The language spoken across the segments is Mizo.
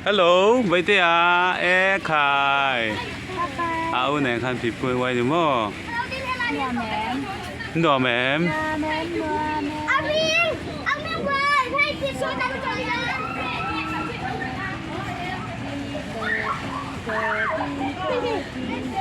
Hello Baite a e khai a u nen khan pi pui wai ni mo nuam em Thank you.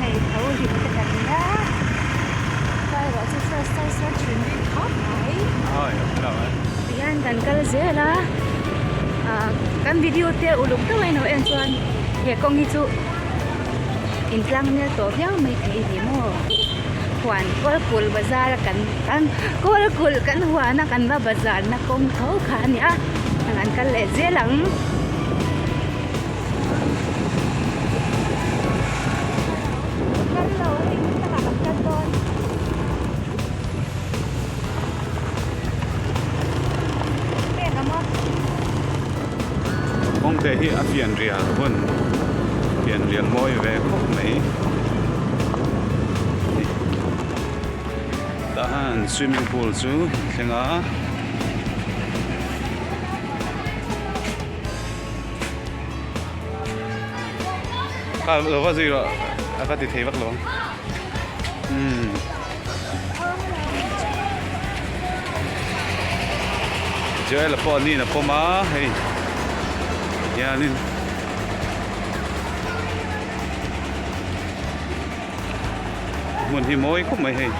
hei tho lim te kan nia tlai ruah chu sar sar sar thin ri thap mai tihian kan kal zel a ah kan video te uluk deuh aino en chuan he kawng hi chu in tlang mel tawh viau mai thei a ni maw huan kawlpul bazar a kan kan kawlpul kan huan a kan va bazar na kawng tho kha a ni a kan kal leh zel ang. kawngte hi a fian rial hun fian rial mawi ve khawp mai tah hian swimming pool chu a thleng a. Ka lo va zui rawh a ka ti thei vak lo. Joel pawh a nin a pawm a hei hianin hmun hi mawi khawp mai hei.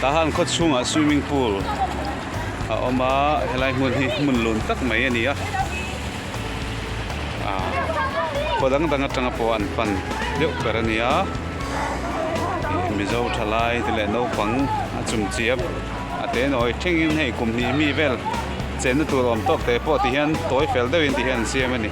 tah hian khaw chhungah swimming pool a awm a helai hmun hi hmun lun tak mai a ni a ah khaw dang dang atanga pawh an pan deuh ber a ni a mizo thalai te leh naupang a chung chiap a te nawi thengin hei kum hnih mi vel chenna tur awm tawk te pawh tihian tawi fel deuhin tihian an siam a ni.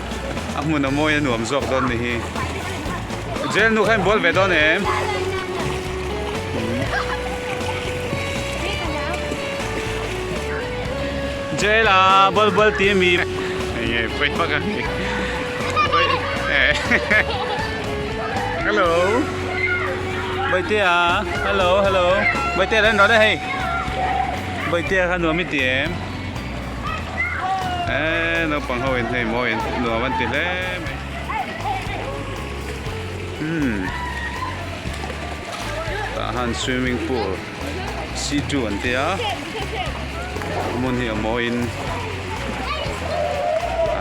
a hmun a mawi a nuam zawk dawn ni hi jail nu khain bual ve dawn em jail a bual bual ti mi nge phoi pa ka ni hello bai te a hello hello bai te len ro da hei bai te khan nuam mi ti em eee naupang ho in hei maw in nuam an ti hle mai umm tah han swimming pool C two an tia a hmun hi a maw in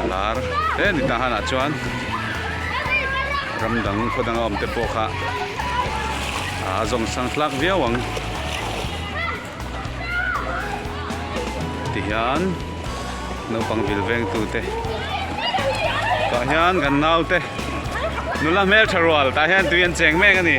a lar he ni tah hanah chuan ram dang khaw dang a awm te pawh kha aa zawng sang hlak viau ang. ti hian naupang vil veng tu te tah hian kan nau te nula hmel tha rual tah hian tui an cheng mek a ni